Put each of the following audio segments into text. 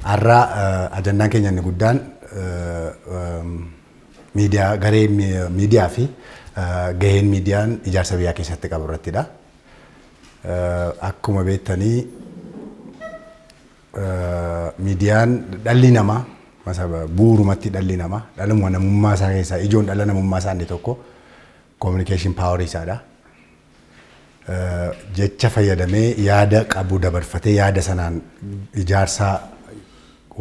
Har'a ajandaan keenya inni guddaan miidiyaa garee miidiyaa fi gaheen miidiyaan ijaarsa biyyaa keessatti qabu irrattidha. Akkuma beektanii miidiyaan dhalli namaa bu'uurumatti dhalli namaa dhaluma namummaa isaa keessaa ijoon dhala namummaa isaa inni tokko kominikeeshin paawarii isaadha. Jecha fayyadamee yaada qabu dabarfatee yaada sanaan ijaarsaa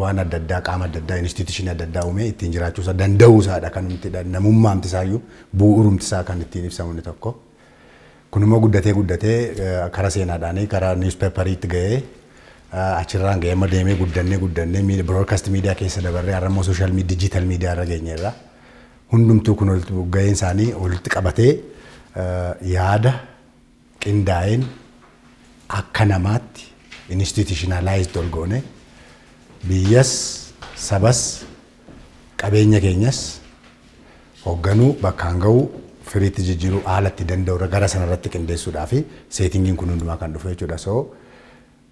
waan adda addaa qaama adda addaa instituushinii adda addaa uumee ittiin jiraachuu isaa danda'uu isaadha kan namummaamti isaayyuu bu'uurumti isaa kan ittiin ibsamu inni tokko. Kunimmoo guddatee guddatee kara seenaadhaanii kara niwuspeepariitti ga'ee achirraan ga'ee amma deemee guddannee guddannee miid- broadcast miidiyaa keessa dabarree har'a immoo social media digital miidiyaa irra geenyeerra. Hundumtuu kun walitti ga'een isaanii walitti qabatee eh, yaada qindaa'een akka namaatti institutionalized ol goone biyyas sabas Qabeenya keenyas hogganuu, bakkaan gahuu, firiitti jijjiiruu haala itti danda'u irra gara sana irratti qindeessuudhaafi seetingiin kun hundumaa kan dhufu jechuudha. So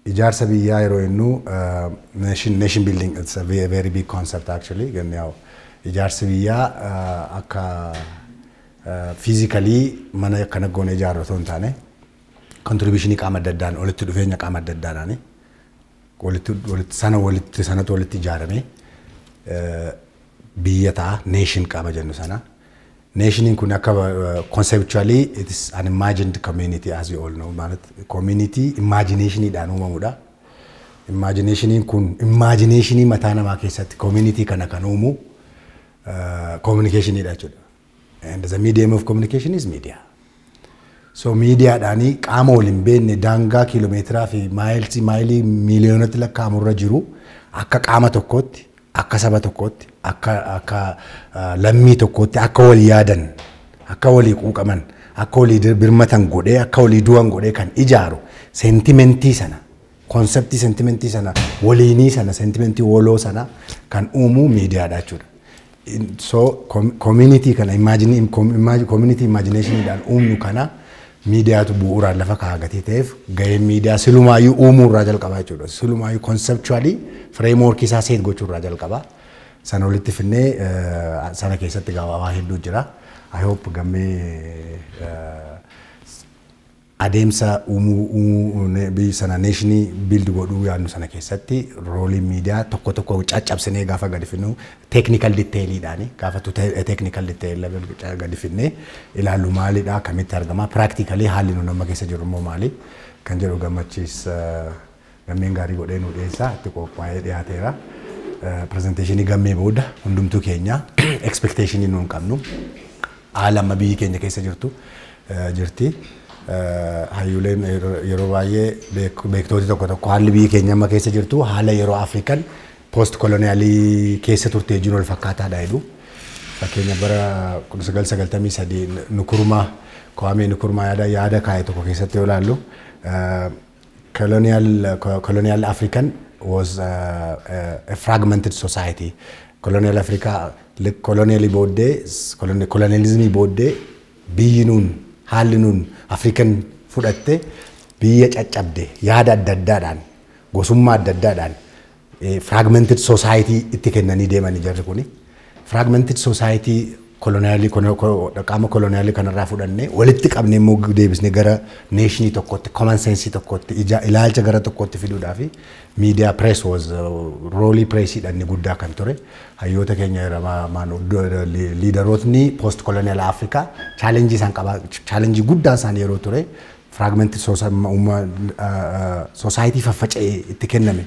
ijaarsa biyyaa yeroo jennu nation, nation building it's a very big concept actually ganni yaa'u ijaarsi biyyaa akka physically mana akkana goone ijaarru otoo hin taane contribution qaama adda addaan walitti dhufeenya qaama adda addaadhaani. walitti walitti sana walitti sanatu walitti ijaarame biyya ta'a nation qaama jennu sana nationiin kun akka conceptually it is an imagined community as you all know ማለት community imaginationidhaan uumamudha imaginationin kun imaginationii mataa namaa keessatti community kana kan uumu communicationidha jechuudha And the medium of communication is media. So miidiyaadhaanii qaama wal hin beekne daangaa kiiloomeetiraa fi maayilsii maayilii miiliyoonatti lakkaa'amu irra jiru akka qaama tokkootti akka saba tokkootti akka akka ah, lammii tokkootti akka wal yaadan akka walii quuqaman akka walii dir- birmatan godhee akka walii du'an godhee kan ijaaru seentimentii sana Konseptii sentimentii sana waliinii sana sentimentii woloo sana kan uumuu miidiyaadha jechuudha. So community kana imagine community imagination dhaan uumnu kana miidiyaatu bu'uuraan lafa kaa'a gatii ta'eef gaheen miidiyaa silumaayyuu uumuu irraa jalqabaa jechuudha. Silumaayyuu conceptually framework isaa seet gochuu irraa jalqabaa. Sana walitti finnee sana keessatti gabaabaa hedduu jira. I hope gammee Adeemsa uumuu biyyi sana neeshinii build godhuu yaadnu sana keessatti rooliin miidiyaa tokko tokko caccabsinee gaafa gadi fidnu technical detail'dhaan gaafa to technical detail level gadi fidnee ilaallu maalidha akkamitti argama practically haalli nuti amma keessa jirru immoo maali kan jedhu gammachiis Gammeen gaarii godhee nuu dhiyeessaa itti qoophaa'ee dhiyaateera. Pirezenteeshinii gammee booda hundumtuu keenya expectation nuun qabnu haala amma biyyi keenya keessa jirtu jirti. Hayyuuleen yeroo baay'ee beektooti tokko tokko haalli biyyi keenya amma keessa jirtu haala yeroo Afrikan post koloniyaalii keessa turtee jiru wal fakkaataadha jedhu. Fakkeenya bara 1993 Nukurumaa Kowaamee Nukurumaa yaada yaada kaa'e tokko keessatti yoo ilaallu Colonial, colonial African was a, a, a fragmented society. Colonial Africa, li- colonialii booddee, s- colon- colonialismii booddee biyyi nuun, haalli nuun African fudhatte biyya caccabde yaada adda addaadhaan, gosummaa adda addaadhaan Fragmented society itti kennanii deemani jarri kuni. Fragmented society koloniyaalii qaama koloniyaalii kanarraa fudhannee walitti qabnee immoo deebisnee gara neeshinii tokkotti common sense tokkotti ija ilaalcha gara tokkotti fiduudhaa fi miidiyaa press was roolii presiidha inni guddaa kan ture hayyoota keenya liidarootni post koloniyaal Afrikaa chaalenjii isaan qabaa chaalenjii guddaan isaan yeroo ture Firaagmentii soosaayitii faffaca'ee itti kenname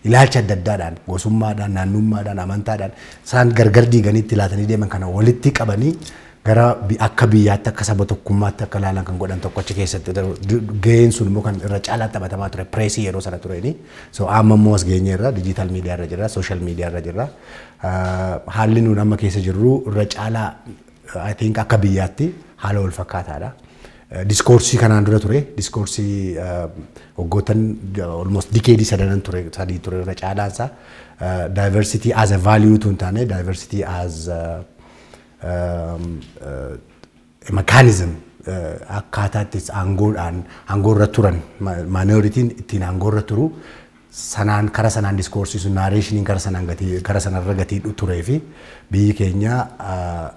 ilaalcha adda addaadhaan gosummaadhaan, naannummaadhaan, amantaadhaan isaan gargar diiganii itti laatanii deeman kana walitti qabanii gara akka biyyaatti akka saba tokkummaatti akka ilaalan kan godhan tokko achi keessatti gaheen sun immoo kan irra caalaa taphatamaa ture pireesii yeroo sana tureeni. So amma immoo as geenye irra dijiitaal miidiyaa irra jirra, sooshaal miidiyaa irra jirra. Haalli nuun amma keessa jirru irra caalaa I think akka biyyaatti haala wal fakkaataadha. Diskoorsii kanaan dura ture, diskoorsii waggoottan almost dikeedii sadanan ture, sadii ture irra caalaan isaa diversity as a value utuu hin taane diversity as a, um, uh, a mechanism uh, akkaataa itti aangoodhaan aangoorra turan ma- minority ittiin aangoorra turu sanaan kara sanaan discourse sun narration kara sanaan gatii kara sanarra gatii dhu turee fi biyyi keenya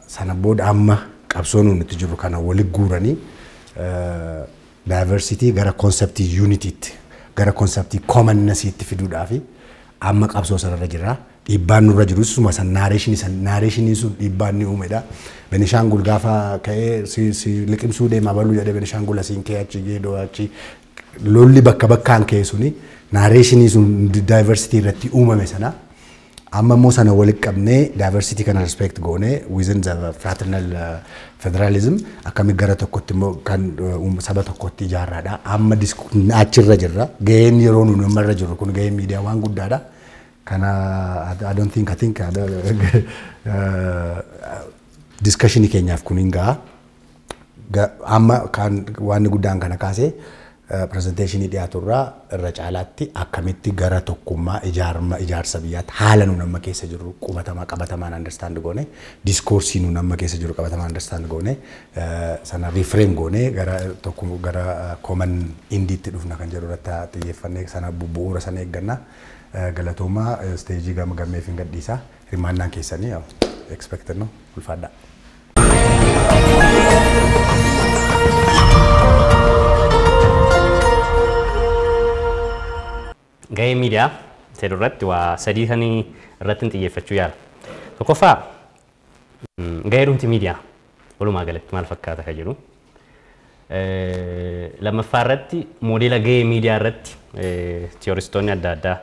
sana booda amma qabsoo nuun itti jirru kana wali guuranii diversity gara concept unity tti gara concept commonness tti fiduudhaa fi amma qabsoo sanarra jirra. Dhiibbaan nurra jiru suma san narration san narration sun dhiibbaan ni uumedha. Benishaangul gaafa ka'ee si si liqimsuu deema baluu jedhee Benishaangul asiin kee achi geedoo achi Lolli bakka bakkaan ka'e suni naareeshinii sun daayivarsitii irratti uumame sana amma immoo sana walitti qabnee daayivarsitii kana respect goone within the fraternal federalism akkamitti gara tokkotti immoo kan saba tokkotti ijaarraadha. Amma achirra jirra. Gaheen yeroo nuyi amma irra jirru kun gaheen miidiyaa waan guddaadha. Kana I don't think I think discussion keenyaaf kun hin ga'a. Amma waan guddaan kana kaasee pirezenteeshinii dhiyaatu irraa irra caalaatti akkamitti gara tokkummaa ijaarma ijaarsa biyyaatti haala nuun amma keessa jirru qubatamaa qabatamaan understand goone diskoorsii nuun amma keessa jirru qabatamaan understand goone sana reframe goone gara tokko gara common indiitti dhufna kan jedhu irratti xiyyeeffannee sana bu'uura sana eegganna galatoomaa isteejii gama gammeef hin gadhiisa hirmaannaan keessanii expected no ulfaadhaa. Gahee miidiyaa jedhu irratti waa sadii kan irratti hin xiyyeeffachuu yaala. Tokkoffaa gahee dhumti miidiyaa walumaa galatti maal fakkaata kan jedhu Lammaffaa irratti moodeela gahee miidiyaa irratti tiyooristoonni adda addaa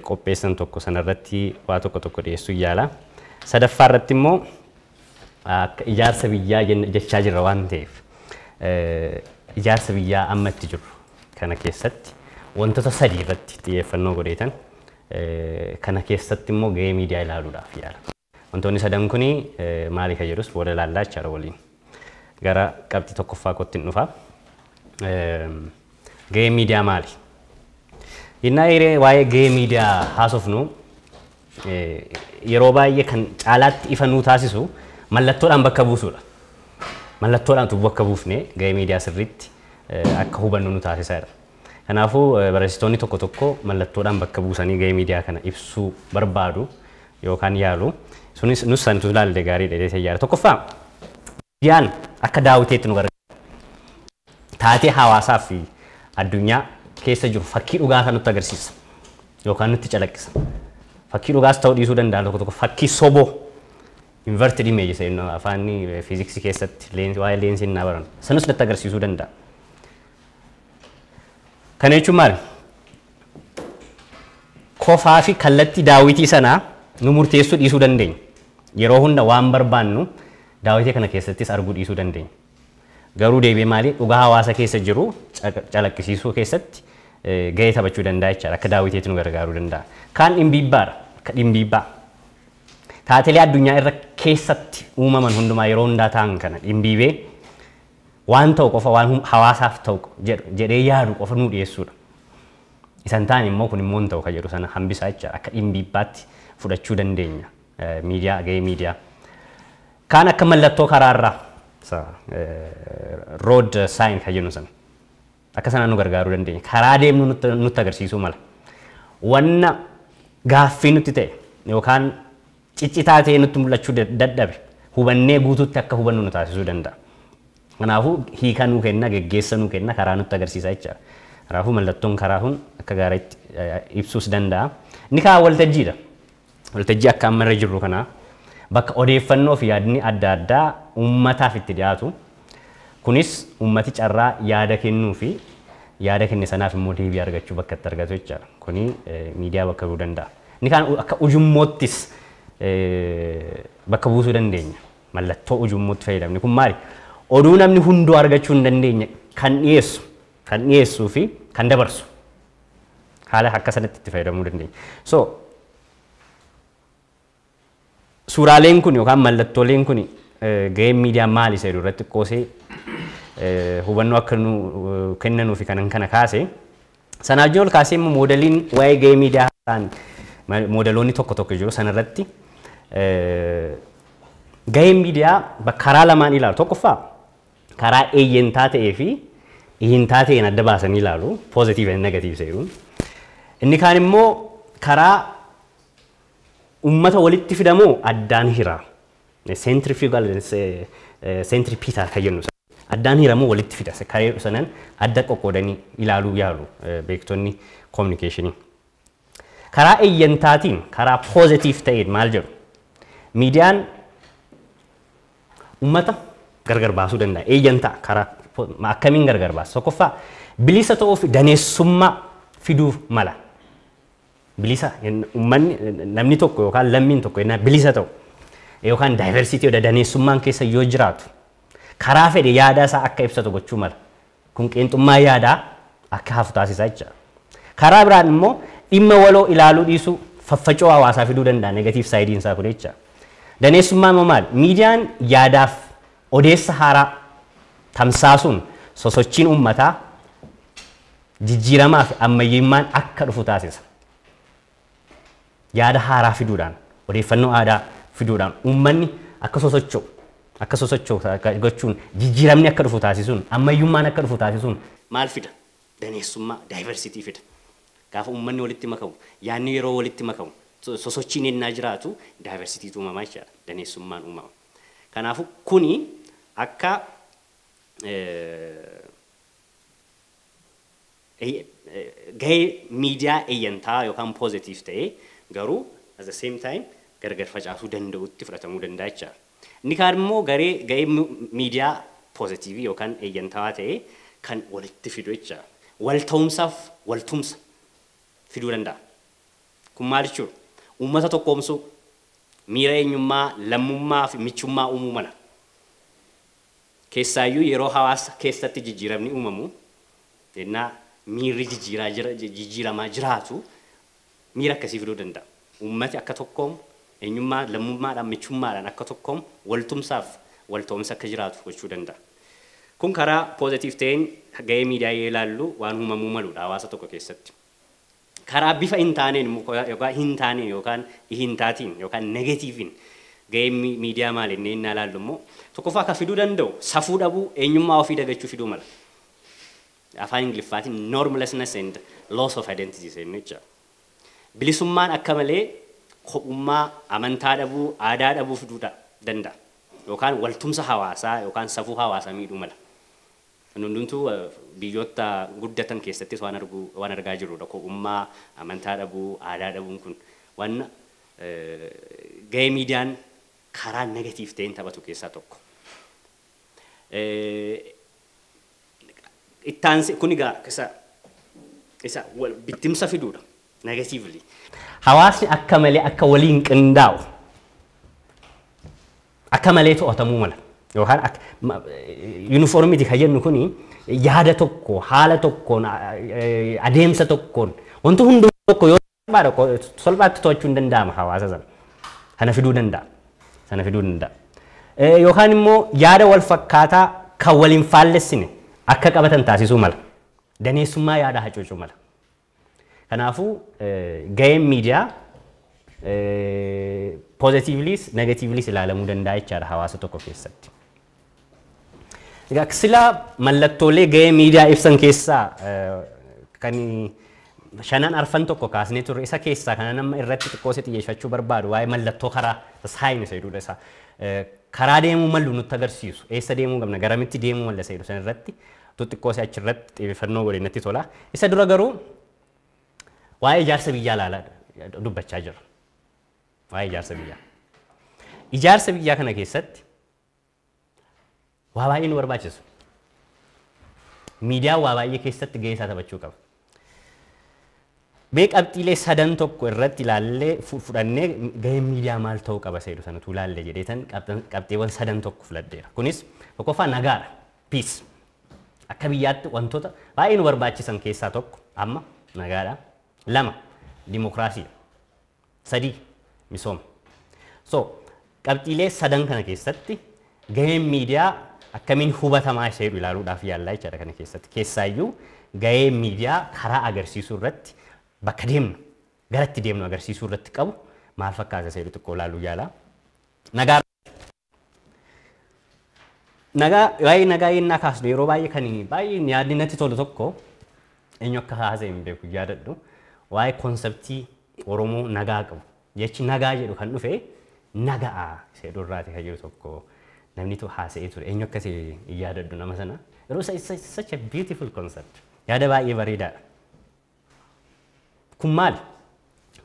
qopheessan tokko sana irratti waa tokko tokko dhiyeessuu yaala. Sadaffaa irratti immoo akka ijaarsa biyyaa jechaa jirra waan ta'eef ijaarsa biyyaa amma itti jiru kana keessatti wantoota sadii irratti xiyyeeffannoo godheetan kana keessatti immoo gahee miidiyaa ilaaluudhaaf yaala. Wantoonni sadan kun maali kan jedhus booda ilaallaa jechaadha waliin. Gara qabxii tokkoffaa kootti hin dhufa. Gahee miidiyaa maali? Innaa hiree waa'ee gahee miidiyaa haasofnu yeroo baay'ee kan caalaatti ifa nuu taasisu mallattoodhaan bakka buusuudha. Mallattoodhaan utuu bakka buufne gahee miidiyaa sirriitti akka hubannu nu taasisa. Kanaafuu, barreessitoonni tokko tokko mallattoodhaan bakka buusanii gahee miidiyaa kana ibsuu barbaadu yookaan yaalu. Sunis nus san utuu ilaalle gaariidha jedhee yaada. Tokkoffaa, miidiyaan akka daawwiteetti nu gargaara. Taatee hawaasaa fi addunyaa keessa jiru fakkii dhugaa isaa nutti agarsiisa yookaan nutti calaqqisa. Fakkii dhugaas ta'uu dhiisuu danda'a tokko tokko fakkii soboo inverted image isa inni afaan fiiziksii keessatti leensi waa'ee leensiin naa baran sanus natti agarsiisuu danda'a. Kana jechuun maali? Kofaa fi kallattii daawwitii sanaa nu murteessuu dhiisuu dandeenya. Yeroo hunda waan barbaannu daawwitii kana keessattis arguu dhiisuu dandeenya. Garuu deebi'ee maali? Dhugaa hawaasa keessa jiru calaqqisiisuu keessatti gahee taphachuu danda'a jechaadha. Akka daawwiteetti nu gargaaruu danda'a. Kaan dhimbiibbaadha. Akka dhimbiibbaa. Taatelee addunyaa irra keessatti uumaman hundumaa yeroo hundaa ta'an kana dhimbiibee waan ta'u qofa waan hawaasaaf ta'u jedhee yaadu qofa nuu dhiyeessuudha. Isa hin taane immoo kun immoo hin ta'u kan jedhu sana hambisaa jechaadha. Akka dhimbiibbaatti fudhachuu dandeenya miidiyaa gahee miidiyaa. Kaan akka mallattoo karaarraa road sign kan jennu sana. Akka sanaan nu gargaaruu dandeenya. Karaa deemnu nutti nutti agarsiisuu mala. Wanna gaaffii nutti ta'e yookaan ciccitaa ta'ee nutti mul'achuu dad- dadhabe hubannee guutuutti akka hubannu nu taasisuu danda'a. Kanaafuu hiika nuu kenna, geggeessa nuu kenna, karaa nutti agarsiisa jechaadha. Kanaafuu mallattoon karaa kun akka gaariitti eh, ibsuus danda'a. Inni kaan waltajjiidha. Waltajjii akka amma irra jirru kana bakka odeeffannoo fi yaadni adda addaa uummataaf itti dhiyaatu. Kunis uummati carraa yaada kennuu fi yaada kenne sanaaf immoo deebii argachuu bakka itti argatu jechaadha. Kuni miidiyaa bakka bu'uu danda'a. Inni kaan akka ujummoottis bakka buusuu dandeenya. Mallattoo ujummootti fayyadamne kun maali? Oduu namni hunduu argachuu hin dandeenye kan dhiyeessu kan dhiyeessuu fi kan dabarsu. Haala akka sanatti itti fayyadamuu dandeenya. So suuraaleen kun yookaan mallattooleen kun gaheen miidiyaa maali isa jedhu irratti qoosee hubannoo akka nu kennanuu fi kanan kana kaase. Sana wajjin ol kaasee immoo moodeliin waa'ee gahee miidiyaa ta'an moodaloonni tokko tokko jiru sana irratti gaheen miidiyaa karaa lamaan ilaalu. Tokkoffaa karaa eeyyentaa ta'ee fi ihintaa ta'een adda baasanii ilaalu, positive and negative isa jedhuun. Inni kaan immoo karaa ummata walitti fida moo addaan hira? Centrifugal and ce- eh, centripetal kan jennu sana. Addaan hira moo walitti fida? Isa Karee sanan adda qoqqoodanii ilaaluu yaalu eh, beektonni communication. Karaa eeyyentaatiin, karaa positive ta'een maal jedhu? Miidiyaan Ummata gargar baasuu danda'a. Eeyyan ta'a. Karaa akkamiin gargar baasa? Tokkoffaa bilisa ta'uuf daneessummaa fiduuf mala. Bilisa ummanni namni tokko yookaan lammiin tokko yennaa bilisa ta'u yookaan daayivarsiitii yoo daneessummaan keessa yoo jiraatu karaa fedhe yaadaa isaa akka ibsatu gochuu mala. Kun qeenxummaa yaadaa akka hafu taasisa jecha. Karaa biraan immoo dhimma waloo ilaaluu dhiisuu faffacoo hawaasaa fiduu danda'a negatiiv saayidiin isaa kun jecha. Daneessummaan immoo maali? Miidiyaan yaadaaf odeessa haaraa tamsaasuun sosochiin uummataa jijjiiramaa fi ammayyummaan akka dhufu taasisa. yaada haaraa fiduudhaan, odeeffannoo aadaa fiduudhaan uummanni akka sosocho'u, akka sosocho'u gochuun jijjiiramni akka dhufu taasisuun, ammayyummaan akka dhufu taasisuun maal fida? Daneessummaa, diversity, fida. Gaafa uummanni walitti makamu, yaadni yeroo walitti makamu, sosochiin ennaa jiraatu diversity tu uumama jechaadha. Daneessummaan uumama. Kanaafuu kuni akka gahee miidiyaa eyyantaa yookaan positive ta'ee garuu at the same time gargar facaasuu danda'utti fudhatamuu danda'a jecha. Inni kaan immoo garee gahee miidiyaa positive yookaan eyyantawaa ta'ee kan walitti fidu jecha. Wal ta'umsaaf wal tumsa fiduu danda'a. Kun maal jechuudha? Uummata tokkoomsuu, miira eenyummaa, lammummaa fi michummaa uumuu mala. Keessaayyuu yeroo hawaasa keessatti jijjiiramni uumamu, ennaa miirri jijjiiraa jira, jijjiiramaa jiraatu miira akkasii fiduu danda'a. Uummati akka tokkoomu, eenyummaa, lammummaadhaan, michummaadhaan akka tokkoomu, waltumsaaf walta'umsi akka jiraatu gochuu danda'a. Kun karaa positive ta'een ga'ee miidiyaa yoo ilaallu waan uumamuu maluudha hawaasa tokko keessatti. Karaa bifa hin taaneen immoo yookaan hin taaneen yookaan hin taatiin yookaan negatiiviin gaheen miidiyaa maali jennee innaa ilaallu immoo tokkoffaa kan fiduu danda'u safuu dhabuu, eenyummaa ofii dagachuu fiduu mala. Afaan Ingiliffaatiin normlessness and loss of identity seenne jecha. Bilisummaan akka malee kophummaa, amantaa dhabuu, aadaa dhabuu fiduu danda'a. Yookaan waltumsa hawaasaa yookaan safuu hawaasaa miidhuu mala. Kun hundumtuu biyyoota guddatan keessattis waan argu waan argaa jirruudha. Kophummaa, amantaa dhabuu, aadaa dhabuun kun waan gahee miidiyaan karaa negative ta'een taphatu keessaa tokko. Itti aansee kun egaa isa isa bittimsa fiduudha negatively. Hawaasni akka malee akka waliin qindaa'u akka malee to'atamuu mala. Yookaan akka ma- yuunifoormiiti kan jennu kuni yaada tokko, haala tokkoon, a- e- adeemsa tokkoon wanti hundi tokko yoo salphaadha qo- salphaatti to'achuu hin danda'ama hawaasa sana. Sana fiduu danda'a. Sana fiduu danda'a. Eh, Yookaan immoo yaada wal fakkaataa kan waliin faallessine akka qabatan taasisuu mala. Daneessummaa yaadaa hacuucuu mala. Kanaafuu gaheen miidiyaa pozitiivliis negatiivliis ilaalamuu danda'a jechaadha hawaasa tokko keessatti. Egaa sila mallattoolee gahee miidiyaa ibsan keessaa kan shanan arfan tokko kaasnee turre isa keessaa kana nama irratti xiqqoosee xiyyeeffachuu barbaadu waa'ee mallattoo karaa saayini seeduudha isaa karaa deemuu malu nutti agarsiisu eessa deemuu qabna garamitti deemuu malla seedu san irratti tu xiqqoo si achi irratti xiyyeeffannoo godhe natti tola. Isa dura garuu waa'ee ijaarsa biyyaa laala dubbachaa jirra. Waa'ee ijaarsa biyyaa. Ijaarsa biyyaa kana keessatti waa baay'ee nu barbaachisa. Miidiyaan waa baay'ee keessatti gahee isaa taphachuu qaba. Mee qabxiilee sadan tokko irratti ilaallee fudhannee gaheen miidiyaa maal ta'uu qaba seedu sana utuu ilaalle jedheetan qabxiiwwan sadan tokko filadheera. Kunis tokkoffaa nagaadha. Peace. Akka biyyaatti wantoota baay'ee nu barbaachisan keessaa tokko amma nagaadha. Lama dimokiraasiidha. 3, Misooma So, qabxiilee sadan kana keessatti gaheen miidiyaa akkamiin hubatamaa isa jedhu ilaaluudhaaf yaallaa jechaadha kana keessatti. Keessaayyuu gahee miidiyaa karaa agarsiisuu irratti bakka deemnu, gara itti deemnu agarsiisuu irratti qabu maal fakkaata isa jedhu xiqqoo ilaaluu yaala. Nagaa Nagaa, waa'ee nagaa yennaa kaasnu yeroo baay'ee kan baay'ee yaadni natti tolu tokko eenyu akka haasa'e hin beeku yaadadhu. Waa'ee konseptii Oromoo nagaa qabu. Jechi nagaa jedhu kan dhufe naga'a isa jedhu irraati kan jiru tokko namni tokko haasa'ee ture. Eenyu akka ta'e hin yaadadhu nama sana. Garuu such a beautiful concept. Yaada baay'ee bareedaadha. Kun maali?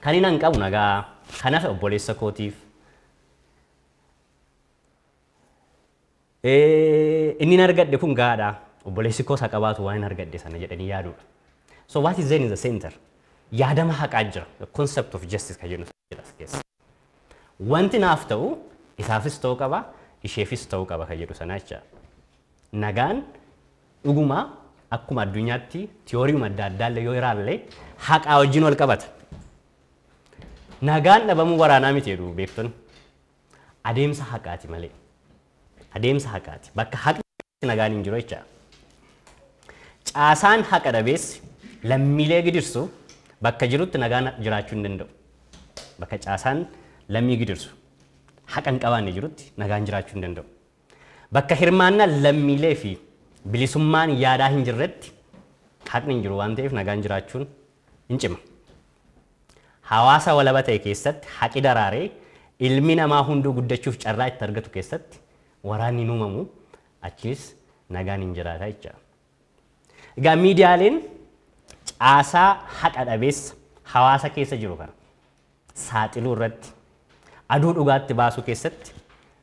Kan hin hanqabu nagaa, kan hafe obboleessa kootiif. Inni hin argadhe kun gaadha, obboleessi koos haqa baatu waan hin argadhe sana jedhanii yaaduudha. So what is there in the center? Yaadama haqaa jira, the concept of justice kan jennu. jedha as keessa. Wanti naaf ta'u isaafis ta'uu qaba, isheefis ta'uu qaba kan jedhu sana jecha. Nagaan dhuguma akkuma addunyaatti tiyooriima adda addaallee yoo iraallee haqaa wajjin wal qabata. Nagaan dhabamuu waraanaa miti jedhu beektonni. adeemsa haqaati malee. Adeemsa haqaati. Bakka haqni jirutti nagaan hin jiru jecha. Caasaan haqa dhabeessi lammiilee gidirsu bakka jirutti nagaan jiraachuu hin danda'u. Bakka caasaan lammii gidirsu haqa hin qabaanne jirutti nagaan jiraachuu hin danda'u. Bakka hirmaannaan lammiilee fi bilisummaan yaadaa hin jirretti haqni hin jiru waan ta'eef nagaan jiraachuun in cima. Hawaasa walaba ta'e keessatti haqi daraaree ilmi namaa hunduu guddachuuf carraa itti argatu keessatti waraanni hin uumamu, achiis nagaan hin jiraata jechaadha. Egaa miidiyaaleen caasaa haqa dhabeessa hawaasa keessa jiru kana saaxiluu irratti, aduu dhugaatti baasuu keessatti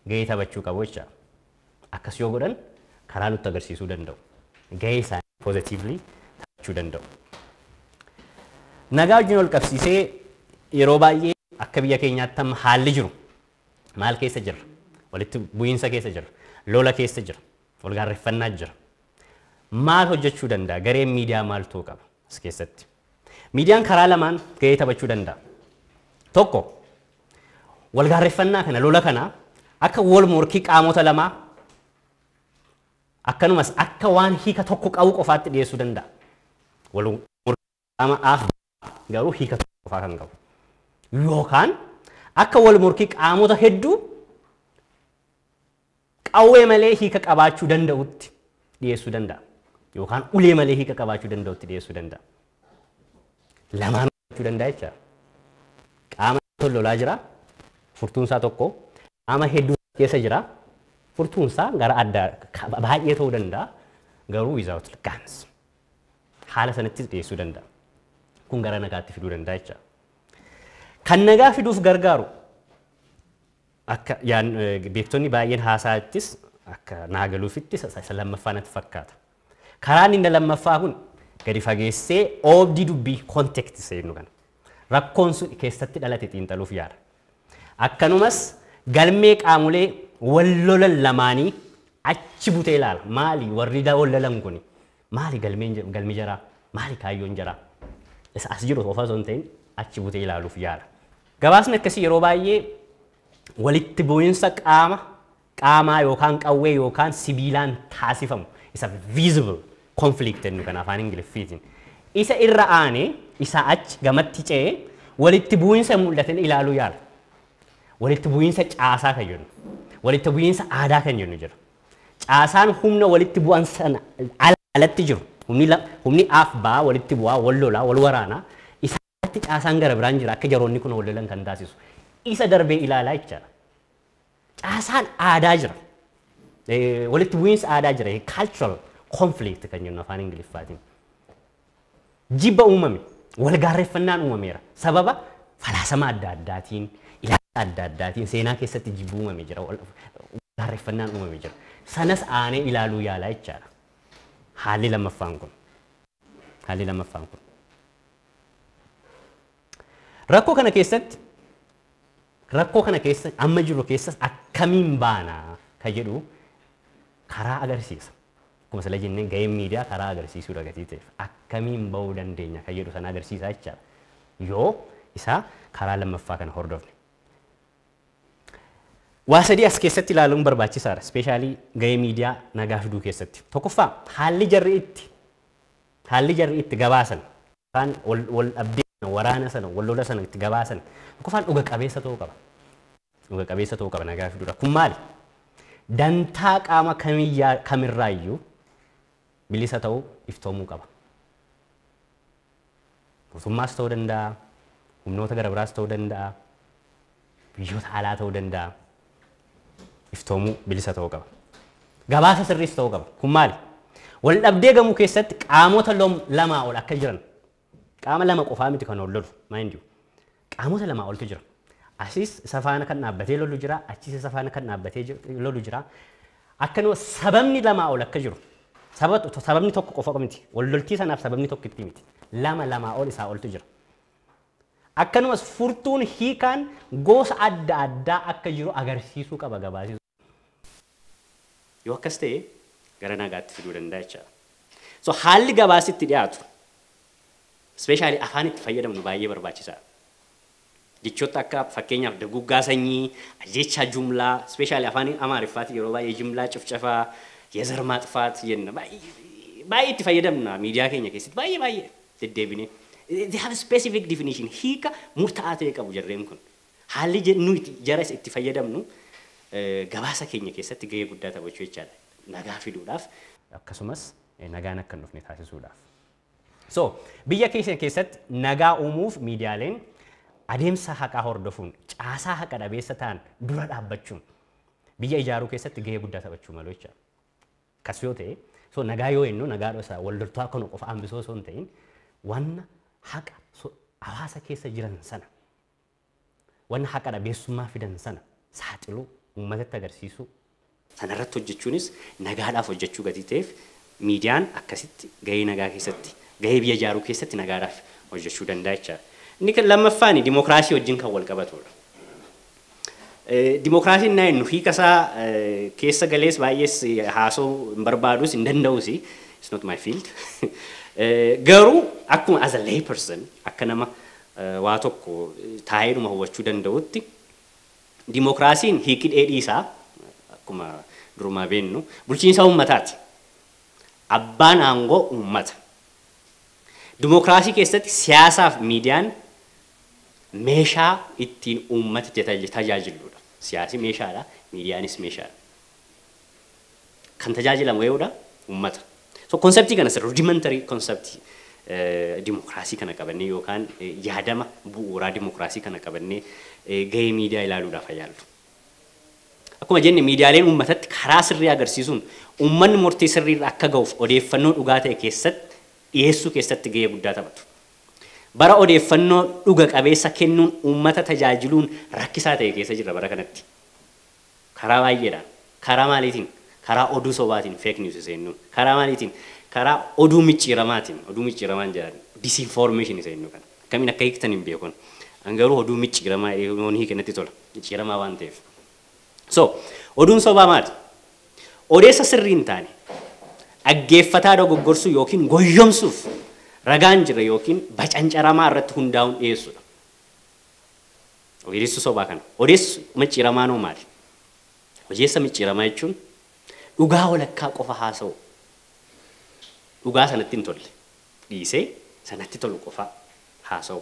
gahee taphachuu qabu jechaadha. Akkas yoo godhan karaa nutti agarsiisuu danda'u. Gahee isaanii positively taphachuu danda'u. Nagaa wajjin walqabsiisee yeroo baay'ee akka biyya keenyaatti amma haalli jiru maal keessa jirra? Walitti bu'iinsa keessa jirra. Lola keessa jira. Walgaarreffannaa jira. Maal hojjechuu danda'a? Gareen miidiyaa maal ta'uu qaba as keessatti? Miidiyaan karaa lamaan gahee taphachuu danda'a. Tokko, wal gaarreffannaa kana, lola kana akka wal morkii qaamota lamaa akkanumas akka waan hiika tokko qabu qofaatti dhiyeessuu danda'a. Wal morkii qaama A fi B garuu hiika tokko qofaa kan qabu. Yookaan akka wal morkii qaamota hedduu qawwee malee hiika qabaachuu danda'utti dhiyeessuu danda'a. Yookaan ulee malee hiika qabaachuu danda'utti dhiyeessuu danda'a. Lamaan hojjechuu danda'a jecha. Qaama tokko lolaa jira. Furtuun isaa tokko. Qaama hedduu keessa jira. Furtuun isaa gara addaa ka- baay'ee ta'uu danda'a. Garuu without guns. Haala sanattis dhiyeessuu danda'a. Kun gara nagaatti fiduu danda'a jecha. Kan nagaa fiduuf gargaaru Akka beektonni baay'een haasaa'attis akka naa galuufitti isa lammaffaa natti fakkaata. Karaan inni lammaffaa kun gadi fageessee oobdii dubbii kontekti seennu kana. Rakkoon sun keessatti dhalate xiinxaluuf yaala. Akkanumas galmee qaamolee wal lolan lamaanii achi butee ilaala. Maali warri wal lolan kuni? Maali galmeen galmi jaraa? Maali kaayyoon jaraa? Isa as jiru qofa osoo hin ta'in achi butee ilaaluuf yaala. Gabaasni akkasii yeroo baay'ee walitti bu'insa qaama qaamaa yookaan qawwee yookaan sibiilaan taasifamu isa visible conflict jennu kan afaan Ingiliffiitiin isa irra aanee isaa achi gamatti ce'ee walitti bu'insa hin mul'atin ilaaluu yaala. Walitti bu'insa caasaa kan jennu, walitti bu'insa aadaa kan jennu jira. Caasaan humna walitti bu'an sana alatti jiru, humni la, humni aaf baa walitti bu'aa, wal lolaa, wal waraanaa, isaan alatti caasaan gara biraan jira akka jaroonni kun wal lolan kan taasisu. Isa darbee ilaalaa jechaadha. Caasaan aadaa jira. Eh, walitti bu'iinsa aadaa jira. Cultural conflict kan jennu afaan Ingiliffaatiin. Jibba uumame, wal gaarreffannaan uumameera. Sababa falaasama adda addaatiin, ilaalcha adda addaatiin seenaa keessatti jibbi uumame jira, wal gaarreffannaan uumame jira. Sanas aanee ilaaluu yaalaa jechaadha. Haalli lammaffaan kun. Haalli lammaffaan kun. Rakkoo kana keessatti rakkoo kana keessa amma jirru keessas akkamiin baana ka jedhu karaa agarsiisa. Akkuma sila jenne gaheen miidiyaa karaa agarsiisuudha gatii ta'eef akkamiin ba'uu dandeenya kan jedhu sana agarsiisa jechaadha. Yoo isaa karaa lammaffaa kana hordofne. Waa sadii as keessatti ilaaluun barbaachisaadha. Ispeeshaalii gahee miidiyaa nagaa fiduu keessatti. Tokkoffaa haalli jarri itti haalli jarri itti gabaasan. Kan wal dhabdee sana, waraana sana, wal lola sana itti gabaasan tokkoffaan dhuga qabeessa ta'uu qaba. Dhuga qabeessa ta'uu qaba nagaa fiduudha. Kun maali? Dantaa qaama kamiyyaa kamirraa iyyuu bilisa ta'uu iftoomuu qaba. Mootummaas ta'uu danda'a, humnoota gara biraas ta'uu danda'a. biyyoota alaa ta'uu danda'a iftoomuu bilisa ta'uu qaba. Gabaasa sirriis ta'uu qaba. Kun maali? Wal dhabdee gamuu keessatti qaamota lom- lamaa ol akka jiran qaama lama qofaa miti kan ol lolu mind you. Qaamota lamaa oltu jira. Asiis isa faana kan dhaabbatee lolu jira, achiis isa faana kan dhaabbatee jir- lolu jira. Akkanuma sababni lamaa ol akka jiru saba- sababni tokko qofa miti. Wal loltii sanaaf sababni tokkitti miti. Lama lamaa ol isaa oltu jira. Akkanumas furtuun hiikaan goosa adda addaa akka jiru agarsiisuu qaba gabaasi sun. Yoo akkas ta'e gara naagaatti fiduu danda'a jechaadha. So haalli gabaasi itti dhiyaatu specially afaan itti fayyadamnu baay'ee barbaachisaadha. Jechoota akka fakkeenyaaf daguuggaa sanyii, ajjeechaa jumlaa, specially afaan Amaariffaatiin yeroo baay'ee jimlaa cifcafaa, yezar maaxfaat jenna. Baay'ee itti fayyadamna miidiyaa keenya keessatti baay'ee baay'ee. deddeebinee. They have specific definition, hiika murta'aa ta'e qabu jarreen kun. Haalli je- nuyi itti- jara isa itti fayyadamnu eh, gabaasa keenya keessatti gahee guddaa taphachuu jechaadha. Nagaa fiduudhaaf akkasumas eh, nagaan akka hin dhufne taasisuudhaaf. So, biyya keenya keessatti nagaa uumuuf miidiyaaleen adeemsa haqaa hordofuun caasaa haqa dhabeessa ta'an dura dhaabbachuun biyya ijaaruu keessatti gahee guddaa taphachuu malu jecha. Akkas yoo ta'e, so nagaa yoo jennu nagaa dhosaa wal loltuu akka nu qofa hambisuu osoo hin ta'in wanna haqa so hawaasa keessa jiran sana wanna haqa dhabeessummaa fidan sana saaxiluu uummatatti agarsiisuu sanarratti hojjechuunis nagaadhaaf hojjechuu gatii ta'eef miidiyaan akkasitti gahee nagaa keessatti gahee biyya ijaaruu keessatti nagaadhaaf hojjechuu danda'a jechaadha. Inni kan lammaffaani dimokiraasii wajjin kan wal qabatudha. Dimookiraasii innaa jennu hiika isaa keessa galees baay'ees haasa'uu hin barbaadus hin danda'us it's not my field. Garuu akkuma as a lay person akka nama waa tokko taa'eedhuma hubachuu danda'utti dimookiraasiin hiiki dheedhii isaa akkuma durumaa beennu bulchiinsa uummataati. Abbaan aangoo uummata. Dimookiraasii keessatti siyaasaaf miidiyaan meeshaa ittiin uummata tajaajilluudha. Siyaasi meeshaadha, miidiyaanis meeshaadha. Kan tajaajilamu ee'uudha, uummata. So konseptii kana rudimentary concept dimookiraasii kana qabannee yookaan yaadama bu'uuraa dimookiraasii kana qabannee gahee miidiyaa ilaaluudhaaf haa yaallu. Akkuma jenne miidiyaaleen uummatatti karaa sirrii agarsiisuun uummanni murtii sirriirra akka gahuuf odeeffannoo dhugaa ta'e keessatti dhiyeessuu keessatti gahee guddaa taphatu. Bara odeeffannoo dhuga qabeessa kennuun uummata tajaajiluun rakkisaa ta'e keessa jirra bara kanatti. Karaa baay'eedhaan. Karaa maaliitiin? Karaa oduu sobaatiin, fake news seennuun. Karaa maaliitiin? Karaa oduu micciiramaatiin, oduu micciiramaan jedhan, disinformation isa jennu kana. Akkamiin akka hiiktan hin beeku ani. An garuu oduu micciiramaa jedhee yoon hiike natti tola. Micciiramaa waan ta'eef. So, oduun sobaa maali? Odeessa sirrii hin taane dhaggeeffataa dogoggorsuu yookiin goyyomsuuf ragaa hin jirre yookiin bacancaramaa irratti hundaa'uun dhiyeessuudha. Odeessi sobaa kana. Odeessi micciiramaan hoo maali? Odeessa micciiramaa jechuun dhugaa walakkaa qofa haasa'uu. Dhugaa sanatti hin tolle. dhiisee isa natti tolu qofa haasa'u.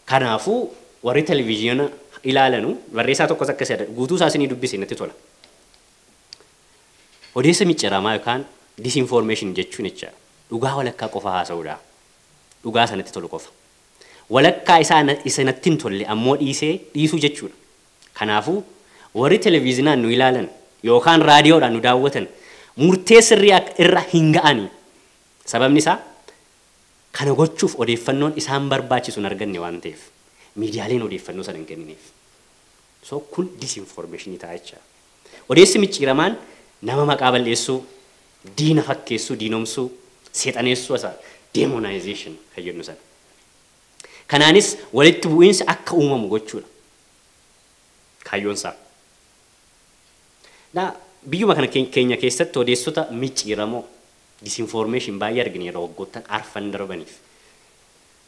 Kanaafuu warri televizyina ilaalanu barreessaa tokkos akka isa guutuu isaa isinii dubbise natti tola. Odeessa micciramaa yookaan disinformation jechuun jecha dhugaa walakkaa qofa haasa'uudha. Dhugaa isa natti tolu qofa. Walakkaa isaa isa natti hin tolle ammoo dhiisee dhiisuu jechuudha. Kanaafuu, warri televiizinaan nu ilaalan yookaan raadiyoodhaan nu daawwatan murtee sirrii irra hin ga'ani. Sababni isaa, kana gochuuf odeeffannoon isaan barbaachisu hin arganne waan ta'eef, miidiyaaleen odeeffannoo sana hin kennineef. So, kun disinfoormeeshinii ta'a jecha. Odeessi micciiramaan nama maqaa bal'eessuu, diina fakkeessuu, diinomsuu, seexaneessuu, demonization kan jennu sana. Kanaanis walitti bu'iinsi akka uumamu gochuudha kaayyoon isaa. Naa biyyuma kana keenya keessatti odeessota micciiramoo, disinformation, baay'ee argineerra waggoottan arfan darbaniif.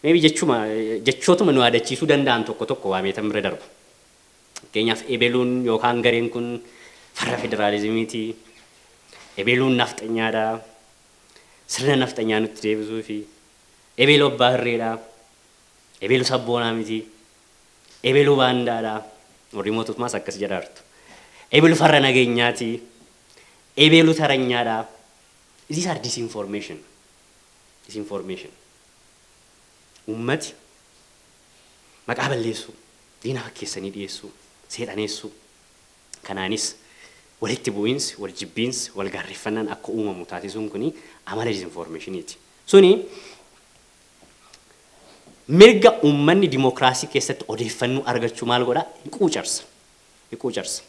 Maybe jechuma jechootuma nu yaadachiisuu danda'an tokko tokko waameetan bira darba. Fakkeenyaaf ebeluun yookaan gareen kun farra federaalizimiiti, ebeluun nafxanyaadha, sirna nafxanyaa nutti deebisuufi, Ebelu abbaa hirree dha. Ebelu sabboonaa miti. Ebelu baandaa dha. Warri mootuufmaas akkas jedhaartu. Ebelu farra nageenyaa ti. Ebelu taranyaa dha. These are disinformation. Disinformation. Uummati maqaa balleessuu, diina fakkeessanii dhiyeessuu, seexaneessuu, kanaanis walitti bu'iinsi, wal jibbiinsi, wal gaarreffannaan akka uumamu taasisuun kuni amala disinformation ti. Suni mirga uummanni dimokiraasii keessatti odeeffannoo argachuu maal godha? Hin quucarsa. Hin quucarsa.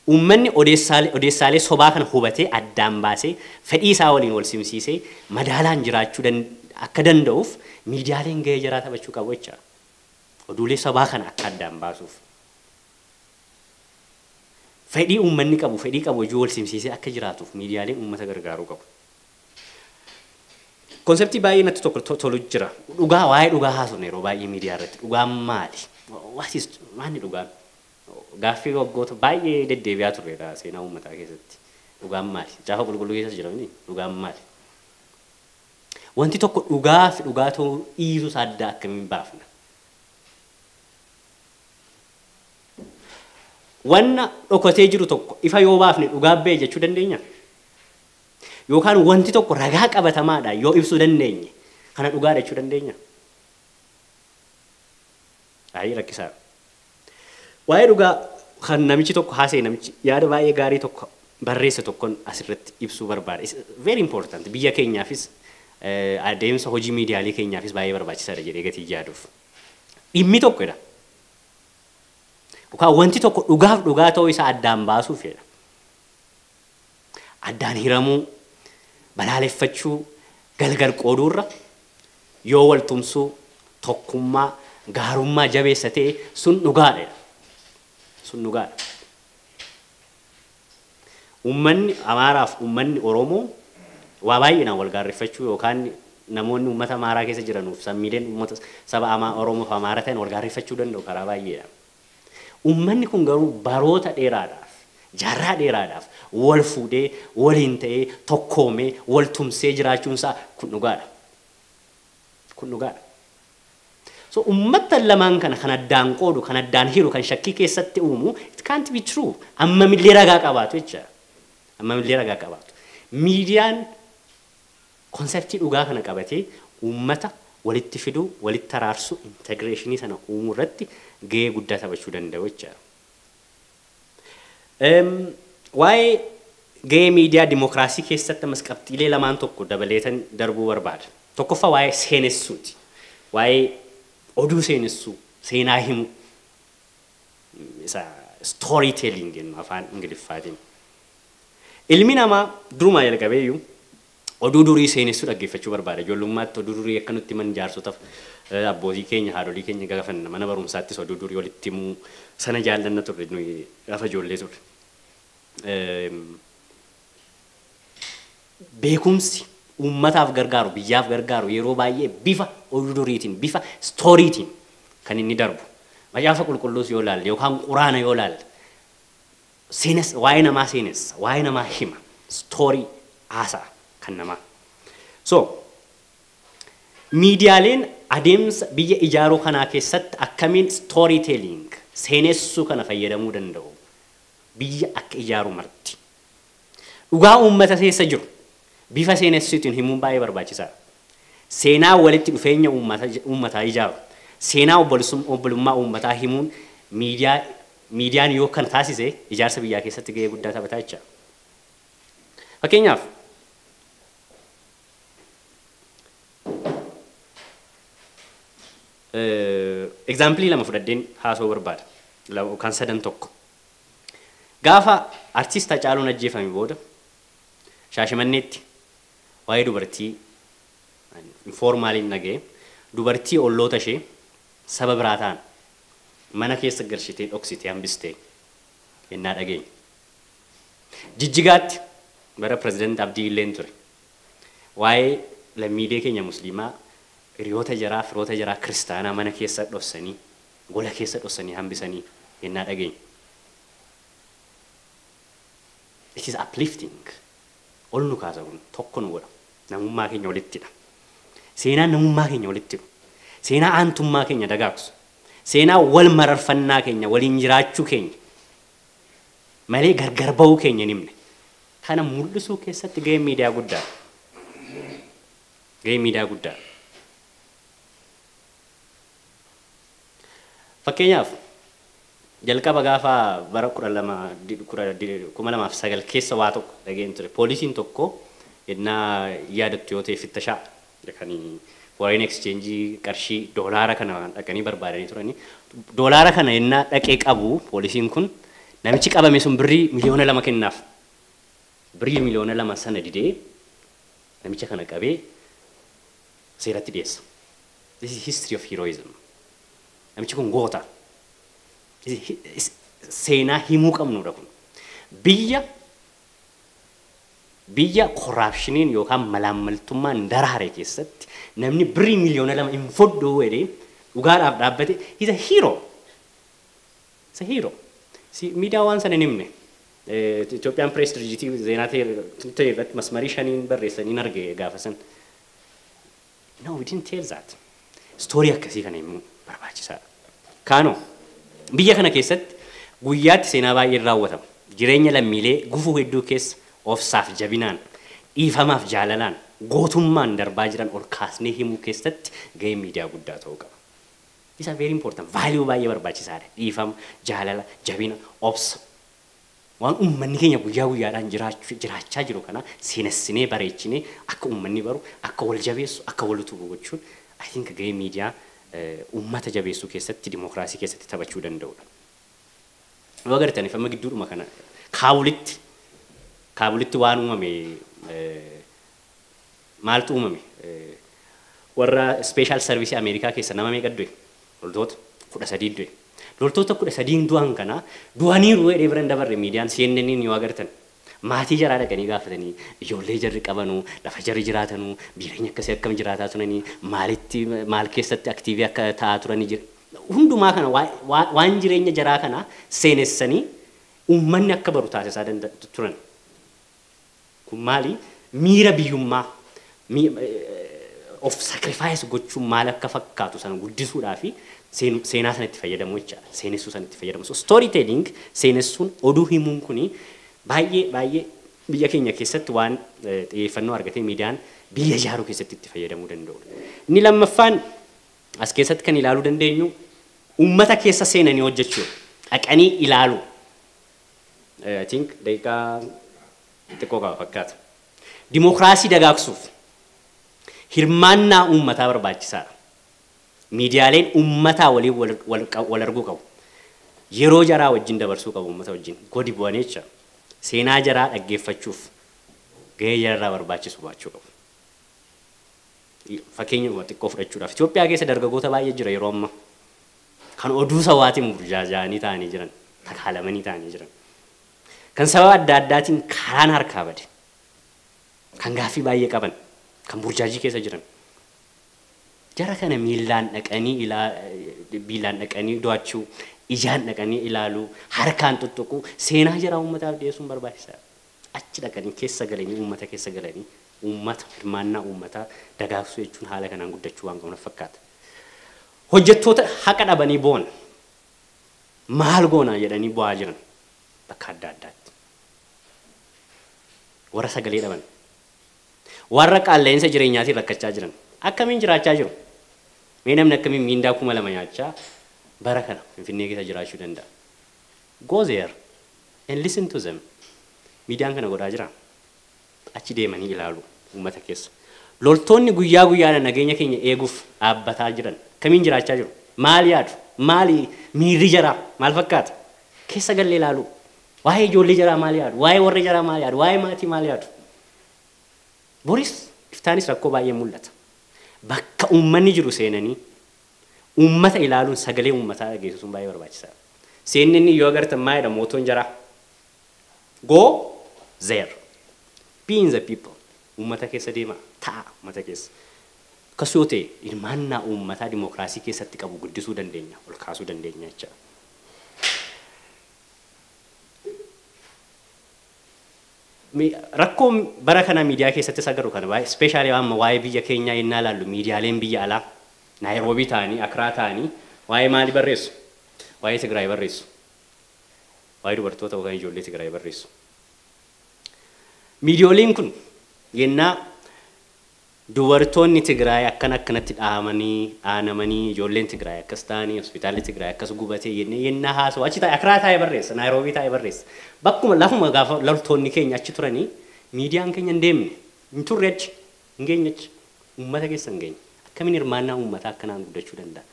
Uummanni odeessaalee odeessaalee sobaa kana hubatee addaan baasee fedhii isaa waliin wal simsiisee madaalaan jiraachuu dan akka danda'uuf miidiyaaleen gahee jaraa taphachuu qabu jecha. Oduulee sobaa kana akka addaan baasuuf. Fedhii uummanni qabu fedhii qabu wajjin wal simsiisee akka jiraatuuf miidiyaaleen uummata gargaaruu qabu. Konseptii baay'ee natti tokko tolu jira. Dhugaa waa'ee dhugaa haasofna yeroo baay'ee miidiyaa irratti. Dhugaan maali? What is maanni dhugaan? Gaaffii waggoota baay'ee deddeebi'aa turreedha seenaa uummataa keessatti. Dhugaan maali? Caafa qulqulluu keessas jira miti dhugaan maali? Wanti tokko dhugaa fi dhugaa ta'uu dhiisuu isaa adda akkamiin baafna? Wanna dhokatee jiru tokko ifa yoo baafne dhugaa ba'e jechuu dandeenya? Yookaan wanti tokko ragaa qabatamaadhaan yoo ibsuu dandeenye kana dhugaadha jechuu dandeenya? Ayii rakkisaadha. Waa'ee dhugaa kan namichi tokko haasa'e namichi yaada baay'ee gaarii tokko barreesse tokkon asirratti ibsuu barbaada. It's very important. Biyya keenyaafis eh, adeemsa hojii miidiyaalee keenyaafis baay'ee barbaachisaadha jedhee gatii yaaduuf. Dhimmi tokko jedha. Yookaan wanti tokko dhugaaf dhugaa ta'uu isaa addaan baasuuf jedha. Addaan hiramuu, balaaleffachuu, galgal qooduu irra yoo wal tumsuu, tokkummaa, gaarummaa jabeessa ta'e sun dhugaadha jedha. Sun dhugaadha. Ummanni Amaaraaf ummanni Oromoo waa baay'inaan wal gaarreffachuu yookaan namoonni ummata Amaaraa keessa jiranuuf sammiileen ummata saba Amaa Oromoof Amaara ta'an wal gaarreffachuu danda'u karaa baay'eedhaan. Ummanni kun garuu baroota dheeraadhaaf, jaarraa dheeraadhaaf wal fuudhee, waliin ta'ee, tokkoomee, wal tumsee jiraachuun isaa kun dhugaa dha. Kun dhugaa dha. So ummattan lamaan kana kan addaan qoodu, kan addaan hiru, kan shakkii keessatti uumu it can't be true. Ammam illee ragaa qabaatu jecha. Ammam illee ragaa qabaatu. Miidiyaan Konseptii dhugaa kana qabatee uummata walitti fiduu, walitti araarsuu, integreeshinii sana uumuu irratti gahee guddaa taphachuu danda'u jechaadha. Waa'ee gahee miidiyaa dimokiraasii keessatti ammas qabxiilee lamaan tokko dabaleetan darbuu barbaada. Tokkoffaa waa'ee seenessuuti. Waa'ee oduu seenessuu, seenaa himuu isa story telling jennu afaan Ingiliffaatiin. Ilmi namaa durumaa jalqabeeyyuu oduu durii seenessuu dhaggeeffachuu barbaada. Ijoollummaatti oduu durii akka nutti himan jaarsotaf abbootii keenya, haadholii keenya gaafanna. Mana barumsaattis oduu durii walitti himuu sana jaallanna turre nuyi gaafa ijoollee turre. Beekumsi uummataaf gargaaru, biyyaaf gargaaru yeroo baay'ee bifa oduu duriitiin, bifa istooriitiin kan inni darbu. Macaafa Qulqulluus yoo ilaalle yookaan Quraana yoo ilaalle Seenessa, waa'ee namaa seenessa, waa'ee namaa hima, story, haasa'a kan namaa. So, miidiyaaleen adeemsa biyya ijaaruu kanaa keessatti akkamiin story telling, seenessuu kana fayyadamuu danda'u? Biyya akka ijaaru marti. Dhugaa uummata keessa jiru bifa seenessuutiin himuun baay'ee barbaachisaadha. Seenaa walitti dhufeenya uummataa ijaaru, seenaa obbolummaa uummataa himuun miidiyaa Miidiyaan yoo kana taasise ijaarsa biyyaa keessatti gahee guddaa taphata jecha. Fakkeenyaaf, egzaampilii lama fudhadheen haasa'uu barbaada. Kan sadan tokko. Gaafa artiist Hacaaluun ajjeefame booda Shaashimanneetti waa'ee dubartii informaaliin dhaga'e dubartii olloota ishee saba biraa ta'an mana keessa galshitee dhoksitee hambiste yennaa dhageenye. Jijjigaatti bara President Abdii illeen ture. Waa'ee lammiilee keenya Musliimaa hiriyoota jaraa, firoota jaraa kiristaanaa mana keessa dhossanii, gola keessa dhossanii hambisanii yennaa dhageenye. It is uplifting. Ol nu kaasa kun. Tokko nu godha. namummaa keenya walitti hidha. Seenaan namummaa keenya walitti hidhu, seenaa aantummaa keenya dagaagsu, seenaa wal mararfannaa keenya, waliin jiraachuu keenya malee gargar ba'uu keenya hin himne. Kana mul'isuu keessatti gaheen miidiyaa guddaadha. Gaheen miidiyaa guddaadha. Fakkeenyaaf, jalqaba gaafa bara 12, 2009 keessa waa tokko dhaga'een ture. Poolisiin tokko ennaa yaadattu yoo ta'e fittashaa kan foreign exchange qarshii doolaara kana dhaqanii barbaadanii turanii. Doolaara kana ennaa dhaqee qabu poolisiin kun namichi qabame sun birrii miliyoona lama kennaaf. Birrii miliyoona lama sana didee namicha kana qabee seeratti dhiyeessa. This is history of heroism. Namichi kun goota. Seenaa himuu qabnuudha kun. Biyya biyya koraapshiniin yookaan malaammaltummaan daraare keessatti namni birrii miliyoona lama hin fudhu jedhee dhugaadhaaf dhaabbate he's a hero. He's a hero. Si miidiyaa waan sana hin himne. Itoophiyaan pirees dirjitii zeenaa ta'e irratti masmarii shaniin barreessaniin arge gaafa san. No, we didn't tell that. Story akkasii kana himuu barbaachisaadha. Kaanoo biyya kana keessatti guyyaatti seenaa baay'een raawwatama. Jireenya lammiilee gufuu hedduu keessa obsaaf jabinaan, dhiifamaaf jaalalaan, gootummaan darbaa jiran ol kaasnee himuu keessatti gaheen miidiyaa guddaa ta'uu qaba. These are very important. Value baay'ee barbaachisaadha. Dhiifama, jaalala, jabina, obsa. Waan ummanni keenya guyyaa guyyaadhaan jiraachu jiraachaa jiru kana seenessinee bareechinee akka ummanni baru, akka wal jabeessu, akka wal utubu gochuun I think gahee miidiyaa ummata jabeessuu keessatti dimookiraasii keessatti taphachuu danda'udha. Yoo agartaniif amma gidduudhuma kana Kaabulitti Kaabulitti waan uumame Maaltu uumame? Warra Special Service America keessa nama meeqa du'e? Loltoota 13 du'e. Loltoota 13 du'an kana du'aniiru jedhee bira hin dabarre miidiyaan CNN'n yoo agartan. Maatii jaraa dhaqanii gaafatanii, ijoollee jarri qabanu, lafa jarri jiraatanu, biireenya akkasii akkam jiraataa turanii, maalitti maal keessatti active akka ta'aa turanii jira. Hundumaa kana waan jireenya jaraa kana seenessanii uummanni akka baru taasisaa turan. Kun maali? Miira biyyummaa, of sacrifice gochuun maal akka fakkaatu sana guddisuudhaaf seenaa sana itti fayyadamuu jechaadha. Seenessuu sana itti fayyadamu. So story telling seenessuun oduu himuun kuni baay'ee baay'ee biyya keenya keessatti waan xiyyeeffannoo argatee miidiyaan biyya ijaaruu keessatti itti fayyadamuu danda'udha. Inni lammaffaan as keessatti kan ilaaluu dandeenyu uummata keessa seenanii hojjechuudha. Dhaqanii ilaaluu. I think daqiiqaa xiqqoo qaba fakkaata. Dimookiraasii dagaagsuuf hirmaannaa uummataa barbaachisaadha. Miidiyaaleen uummataa waliin wal, wal, wal arguu qabu. Yeroo jaraa wajjin dabarsuu qabu uummata wajjin. Godi bu'anii jecha seenaa jaraa dhaggeeffachuuf gahee jararraa barbaachisu baachuu qabu. Fakkeenyuma xiqqoo fudhachuudhaaf Itoophiyaa keessa dargagoota baay'ee jira yeroo ammaa. Kan oduu sabaatiin burjaaja'anii taa'anii jiran, takaalamanii taa'anii jiran. Kan sababa adda addaatiin karaan harkaa bade. Kan gaaffii baay'ee qaban, kan burjaajii keessa jiran. Jara kana miillaan dhaqanii ilaa miillaan dhaqanii do'achuu, ijaan dhaqanii ilaaluu, harkaan tuttuquu, seenaa jaraa uummataaf dhiyeessuun barbaachisaadha. Achi dhaqanii keessa galanii uummata keessa galanii uummata hirmaannaa uummataa dagaagsuu jechuun haala kanaan guddachuu waan qabu natti fakkaata. Hojjettoota haqa dhabanii boo'an maal goona jedhanii boo'aa jiran bakka adda addaatti. Warra sagalee dhaban, warra qaalla'iinsa jireenyaatiin rakkachaa jiran akkamiin jiraachaa jiru? Mee namni akkamiin miindaa kuma lama nyaachaa bara kana Finfinnee keessa jiraachuu danda'a? Go there and listen to them. Miidiyaan kana godhaa jiraa? Achi deemanii ilaalu uummata keessa. Loltoonni guyyaa guyyaadhaan nageenya keenya eeguuf dhaabbataa jiran akkamiin jiraachaa jiru? Maal yaadu? Maali miirri jaraa? Maal fakkaata? Keessa gallee ilaaluu. Waa'ee ijoollee jaraa maal yaadu? Waa'ee warra jaraa maal yaadu? Waa'ee maatii maal yaadu? Boris iftaanis rakkoo baay'een mul'ata. Bakka uummanni jiru seenanii uummata ilaaluun sagalee uummataa dhageessisuun baay'ee barbaachisaadha. CNN yoo agartan maal jedha mootoon jaraa? Go there. Be in the people. Uummata keessa deemaa, ta'aa uummata keessa. Akkas yoo ta'e hirmaannaa uummataa dimokiraasii keessatti qabu guddisuu dandeenya, ol kaasuu dandeenya jecha. Mi- Rakkoo bara kana miidiyaa keessatti isa garu kana baay'ee ispeeshaalii amma waa'ee biyya keenyaa yennaa ilaallu miidiyaaleen biyya alaa Naayiroobii ta'anii Akiraa ta'anii waa'ee maalii barreessu? Waa'ee Tigraay barreessu. Waa'ee dubartoota yookaan ijoollee Tigraay barreessu. Miidiyooliin kun yennaa dubartoonni Tigraay akkana akkanatti dhahamanii, dhaanamanii, ijoolleen Tigraay akkas ta'anii, hospitaalli Tigraay akkas gubatee jennee yennaa haasawu achi taa'e Akiraa taa'e barreessa, Naayiroobii taa'e barreessa. Bakkuma lafuma gaafa loltoonni keenya achi turanii miidiyaan keenya hin deemne, hin turre achi. Hin geenyechi. Uummata keessa hin geenye. Akkamiin hirmaannaa uummataa akkanaan guddachuu danda'a?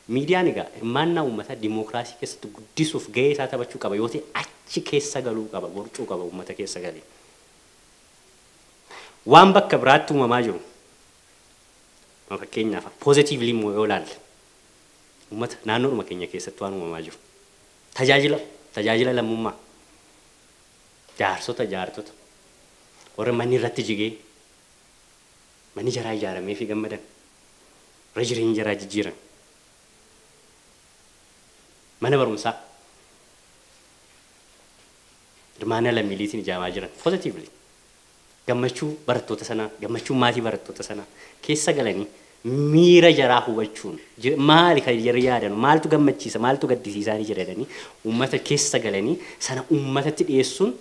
Miidiyaan egaa hirmaannaa uummataa dimookiraasii keessatti guddisuuf gahee isaa taphachuu qaba yoo ta'e achi keessa galuu qaba, borcuu qaba uummata keessa galee. Waan bakka biraatti uumamaa jiru ma fakkeenyaaf positively immoo yoo ilaalle uummata naannoodhuma keenya keessatti waan uumamaa jiru tajaajila tajaajila lammummaa Jaarsota, jaartota, warra manni irratti jigee manni jaraa ijaarameefii gammadan, warra jireenya jaraa jijjiiran, mana barumsaa hirmaannaa lammiileetiin ijaamaa jiran, positively Gammachuu barattoota sanaa, gammachuun maatii barattoota sanaa keessa galanii miira jaraa hubachuun maali kan jarri yaadanu, maaltu gammachiisa, maaltu gaddisiisaani jira jedhanii uummata keessa galanii sana uummatatti dhiyeessuun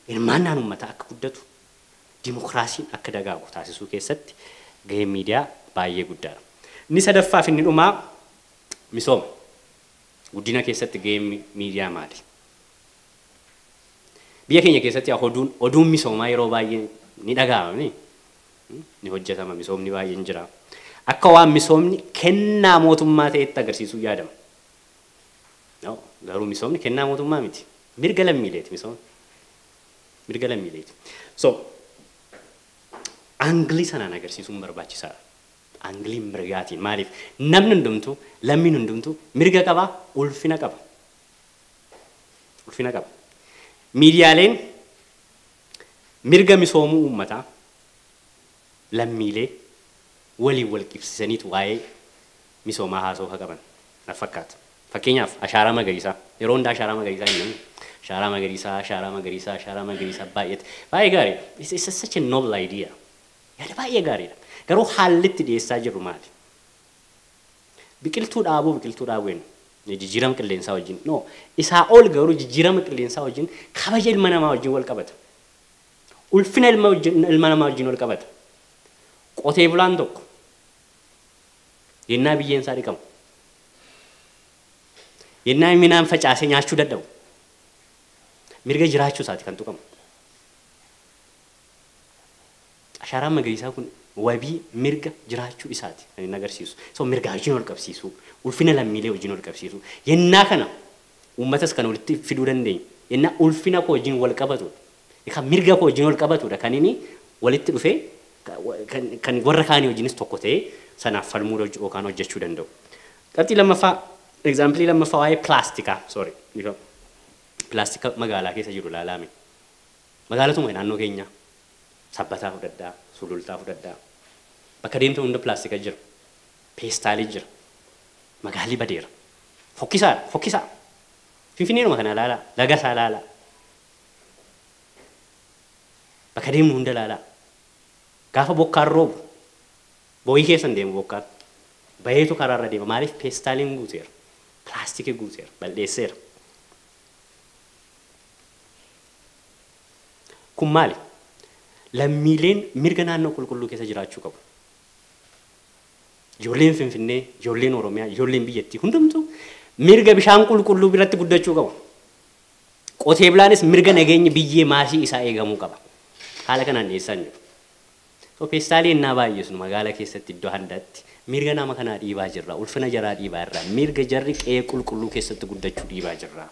hirmaannaan uummataa akka guddatu, dimokiraasiin akka dagaagu taasisuu keessatti gaheen miidiyaa baay'ee guddaadha. Inni sadaffaa fi inni dhumaa misooma, guddina keessatti gaheen miidiyaa maali? Biyya keenya keessatti yaa oduun oduun misoomaa yeroo baay'ee ni dhaga'ama miti. Ni hojjetama misoomni baay'een jira. Akka waan misoomni kennaa mootummaa ta'etti agarsiisuu yaadama. No, garuu misoomni kennaa mootummaa miti. Mirga lammiileeti misoomni. Mirga lammiileeti. So, aangilii sanaan agarsiisuun barbaachisaadha. Aangilii mirgaatiin maaliif namni hundumtuu lammiin hundumtuu mirga qaba, ulfina qaba. ulfina qaba. Miidiyaaleen mirga misoomuu uummataa, lammiilee, waliin wal qibsiisaniitu waa'ee misoomaa haasa'uu ka qaban natti fakkaata. Fakkeenyaaf ashaaraa magariisaa. Yeroo hunda ashaaraa magariisaa hin jennu. Ashaaraa magariisaa, ashaaraa magariisaa, ashaaraa magariisaa baay'eetti. Baay'ee gaariidha. It's, it's such a noble idea. Yaada baay'ee gaariidha. Garuu haalli itti dhiyeessaa jirru maali? Biqiltuu dhaabuu biqiltuu dhaabuu jenna. Jijjiirama qilleensaa wajjin no. Isaa ol garuu jijjiirama qilleensaa wajjin kabaja ilma namaa wajjin wal qabata. Ulfina ilma wajjin ilma namaa wajjin wal qabata. Qotee bulaan tokko yennaa biyyeen isaa dhiqamu yennaa inni midhaan facaasee nyaachuu dadhabu mirga jiraachuu isaati kan tuqamu. Ashaaraan magariisaa kun wabii, mirga, jiraachuu isaati kan inni agarsiisu. So mirgaa wajjin wal qabsiisuu, ulfina lammiilee wajjin wal qabsiisuu, yennaa kana uummatas kan walitti fiduu dandeenyu, yennaa ulfina koo wajjin wal qabatu, kan mirga koo wajjin wal qabatu dha kan inni walitti dhufee kan warra kaanii wajjinis tokko ta'ee sanaaf falmuu yookaan hojjechuu danda'u. Qabxii lammaffaa, example lammaffaa waa'ee pilaastikaa, sorry, dhiifama, pilaastika magaalaa keessa jiru ilaalaa mee. Magaalatuma naannoo keenyaa Sabbataa fudhadhaa, Sulultaa fudhadhaa bakka deemtan hunda pilaastika jira, peestaalii jira. Magaalli badeera. Fokkisaadha, fokkisaa! Finfinneedhuma kana ilaalaa, laga isaa ilaalaa, bakka deemnu hunda ilaalaa. Gaafa bokkaan roobu boo'ii keessa hin deemu bokkaan. Baheetu karaarra deema. Maaliif peestaaliin guuteera, pilaastikii guuteera, bal'eesseera. Kun maali? Lammiileen mirga naannoo qulqulluu keessa jiraachuu qabu. Ijoolleen Finfinnee, ijoolleen Oromiyaa, ijoolleen biyyattii hundumtuu mirga bishaan qulqulluu biratti guddachuu qabu. Qotee bulaanis mirga nageenyi biyyee maasii isaa eegamuu qaba. Haala kanaan dhiyeessaa hin jiru. So peestaalii ennaa baay'isnu magaala keessatti iddoo handaatti mirga nama kanaa dhiibaa jirra, ulfina jaraa dhiibaa jirra, mirga jarri qe'ee qulqulluu keessatti guddachuu dhiibaa jirra.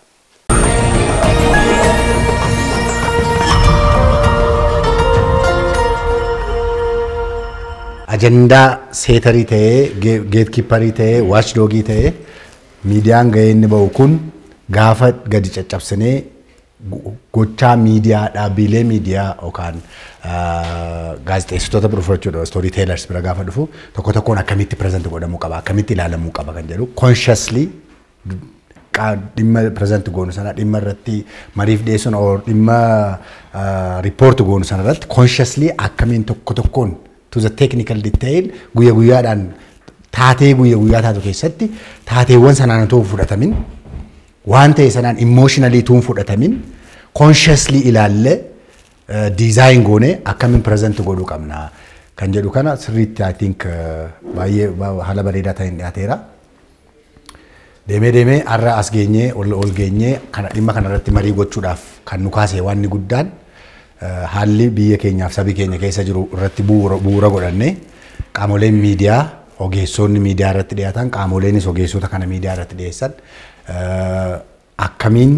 ajandaa seetarii ta'ee geetkiipparii ta'ee waachdoogii ta'ee miidiyaan gahee inni ba'u kun gaafa gadi caccabsinee go- gochaa miidiyaa dhaabbiilee miidiyaa yookaan ah, gaazexeessitoota bira fudhachuudha istoorii teelars bira gaafa dhufu tokko tokkoon akkamitti pireezent godhamuu qaba akkamitti ilaalamuu qaba kan jedhu consciously dhimma pireezanti goonu sana dhimma irratti mariif dhiyeessuun or dhimma riippoorti goonu sana irratti consciously akkamiin tokko tokkoon to the technical detail guyya guyyaadhaan taatee guyya guyyaa taatu keessatti taateewwan sanaan utuu hin fudhatamin waan ta'e sanaan emotionally utuu hin fudhatamin consciously ilaallee diizaayin goonee akkamiin pireezanti godhuu qabna kan jedhu kana sirriitti I think baay'ee haala bareedaa ta'een dhiyaateera. Deemee deemee har'a as geenyee ol ol geenyee kana dhimma kana irratti marii gochuudhaaf kan nu kaase waan inni guddaan eh, haalli biyya keenyaaf sabi keenya keessa jiru irratti bu'uura bu'uura godhannee qaamoleen miidiyaa ogeessoonni miidiyaa irratti dhiyaatan qaamoleenis ogeessota kana miidiyaa irratti dhiyeessan eh, akkamiin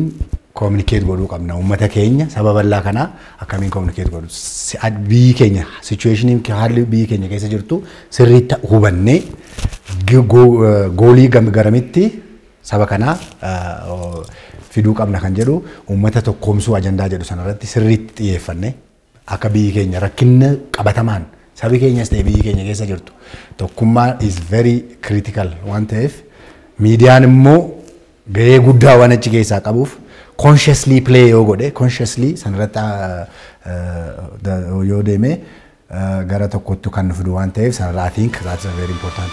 communicate godhuu qabna uummata keenya saba bal'aa kana akkamiin communicate godhu Si- ad- biyyi keenya situation haalli biyyi keenya keessa jirtu sirrii ta- hubannee gi- go- eh, goolii gam- garamitti saba kanaa eh, oh, fiduu qabna kan jedhu uummata tokkoomsuu ajandaa jedhu sanarratti sirriitti xiyyeeffannee Akka biyyi keenya rakkinna qabatamaan sabi keenyas ta'e biyyi keenya keessa jirtu tokkummaa is very critical waan ta'eef miidiyaan immoo gahee guddaa waan achi keessaa qabuuf consciously play yoo godhe consciously sanirratti yoo deeme gara tokkotti kan nu fidu waan ta'eef sanirraa I think that is very important.